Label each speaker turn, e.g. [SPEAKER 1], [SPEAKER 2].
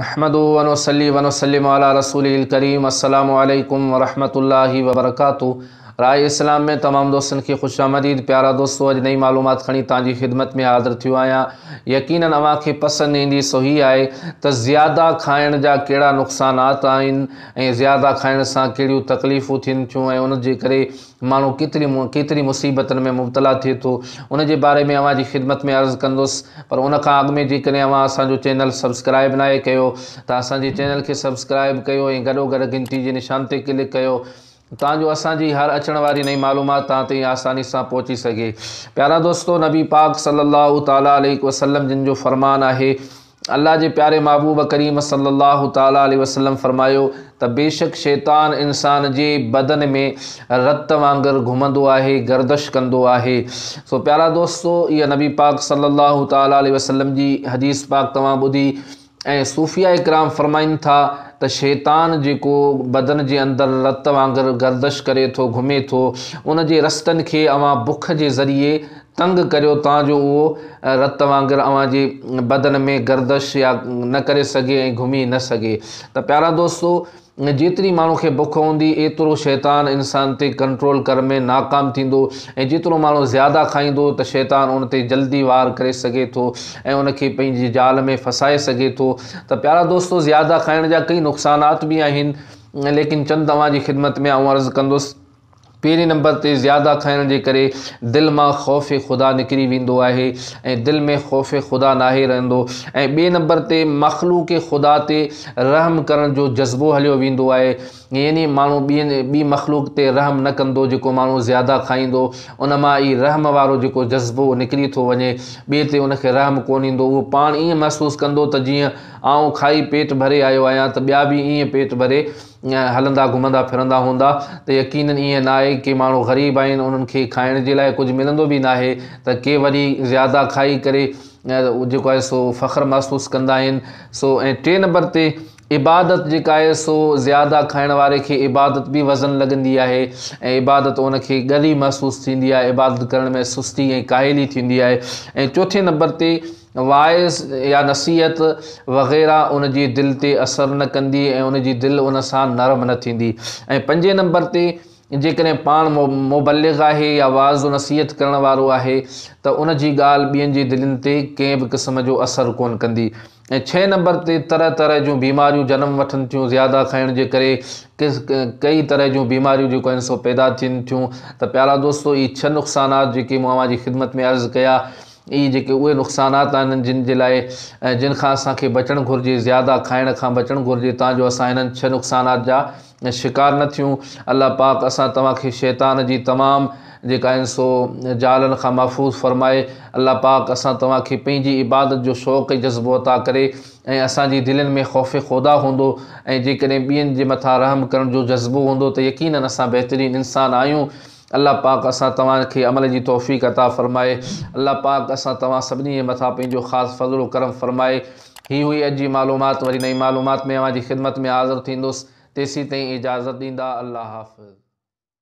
[SPEAKER 1] نحمده ونصلي ونسلم علي رسوله الڪريم السلام عليڪم ورحمة الله وبرڪاته راء اسلام ۾ تمام دوستن کي خوش آمديد پيارا دوستو اڄ نئين معلومات کڻي توهان جي خدمت ۾ حاضر ٿيو آهيان يقينن اوهان کي پسند ايندي سو هي آهي ته زياده کائڻ جا ڪهڙا نقصانات آهن ۽ زياده کائڻ سان ڪهڙيون تڪليفون ٿين ٿيون ۽ ان جي ڪري ماڻهو ڪيتري ڪيتري مصيبتن ۾ مبتلا ٿئي ٿو ان جي باري ۾ اوهان جي خدمت ۾ عرض ڪندس پر ان کان اڳ ۾ جيڪڏهن اوهان اسان جو چينل سبسڪرائب ناهي ڪيو ته اسان جي چينل کي سبسڪرائب ڪيو ۽ گڏو گڏ گهنٽي جي نشان تي ڪلڪ ڪيو تان جو اسان جي هر اچڻ واري نئين معلومات توهان تائين آساني سان پهچي سگهي پيارا دوستو نبي پاڪ صلي الله تعالي عليه وسلم جن جو فرمان آهي الله جي پياري محبوب ڪريم صلي الله تعالٰي عليه وسلم فرمايو ته بيشڪ شيطان انسان جي بدن ۾ رت وانگر گهمندو آهي گردش ڪندو آهي سو پيارا دوستو اها نبي پاڪ صلي الله تعالٰي عليه وسلم جي حديث پاڪ توهان ٻڌي ۽ صوفيا اڪرام فرمائن ٿا ته شيطان جيڪو بدن جي اندر رت وانگر گردش ڪري ٿو گهمي ٿو ان جي رستن کي اوهان بک جي ذريعي تنگ ڪريو تان جو اهو رت وانگر اوهان جي بدن ۾ گردش يا نه ڪري سگهي ۽ گهمي نه سگهي ته پيارا دوستو جيتري ماڻهو کي بک هوندي ايترو شيطان انسان تي ڪنٽرول ڪر ۾ ناڪام ٿيندو ۽ جيترو ماڻهو زياده کائيندو ته شيطان ان تي جلدي وار ڪري سگهي ٿو ۽ ان کي پنهنجي جال ۾ ڦسائي سگهي ٿو ته پيارا دوستو زياده کائڻ جا ڪئي نقصانات به آهن ليڪن چند اوهان جي خدمت ۾ آئون عرض ڪندس پهرين نمبر تي زياده کائڻ جي ڪري دل مان خوف خدا نڪري ويندو آهي ۽ دل ۾ خوف خدا ناهي رهندو ۽ ٻئي نمبر تي مخلوق خدا تي رحم ڪرڻ جو جذبو هليو ويندو آهي يعني ماڻهو ٻي مخلوق تي رحم نه ڪندو جيڪو ماڻهو زياده کائيندو ان مان ئي رحم وارو جيڪو جذبو نڪري ٿو وڃي ٻئي تي ان کي رحم ڪونه ايندو اهو پاڻ ائين محسوس ڪندو ته جيئن آئون کائي پيٽ ڀري آيو آهيان ته ٻيا به ائين پيٽ ڀري هلندا گهمندا ڦرندا هوندا ته يقينن ائين ناهي ڪي ماڻهو غريب آهن انهن کي کائڻ جي لاء ڪجهه ملندو به ناهي ته ڪي وري زياده کائي ڪري جيڪو آهي سو فخر محسوس ڪندا آهن سو ۽ ٽي نمبر تي عبادت جيڪا آهي سو زياده کائڻ واري کي عبادت به وزن لڳندي آهي ۽ عبادت ان کي ڳري محسوس ٿيندي آهي عبادت ڪرڻ ۾ سستي ۽ ڪاهلي ٿيندي آهي ۽ چوٿين نمبر تي واعظ يا نصيحت وغيره ان جي دل تي اثر نه ڪندي ۽ ان جي دل ان سان نرم نه ٿيندي ۽ پنجين نمبر تي جيڪڏهن پاڻ مبلغ آهي يا واعظ و نصيحت ڪرڻ وارو آهي ته ان جي ڳالهه ٻين جي دلين تي ڪنهن به قسم جو اثر ڪونه ڪندي ۽ ڇهين نمبر تي طرح طرح جون بيماريون جنم وٺن ٿيون زياده کائڻ جي ڪري ڪئي طرح جون بيماريون جيڪو آهن سو پيدا ٿين ٿيون ته پيارا دوستو هي ڇهه نقصانات جيڪي مون اوهان جي خدمت ۾ عرض ڪيا اهي جيڪي اهي نقصانات آهن جن جي لاء ۽ جن کان اسان کي بچڻ گهرجي زياده کائڻ کان بچڻ گهرجي تان جو اسان انهن ڇهه نقصانات جا شڪار نه ٿيون الله پاڪ اسان توهان کي شيطان جي تمام جيڪا آهن سو جالن کان محفوظ فرمائي الله پاڪ اسان توهان کي پنهنجي عبادت جو شوق ۽ جذبو عطا ڪري ۽ اسان جي دلين ۾ خوف خودا هوندو ۽ جيڪڏهن ٻين جي مٿان رحم ڪرڻ جو جذبو هوندو ته يقينن اسان بهترين انسان آهيون الله پاڪ اسان توهان کي عمل جي توفيق عطا فرمائي الله پاڪ اسان توهان سڀني جي مٿان پنهنجو خاص فضل و ڪرم فرمائي هي هئي اڄ جي معلومات وري نئين معلومات ۾ اوهان جي خدمت ۾ حاضر ٿيندس تيسين تائين اجازت ڏيندا الله حافظ.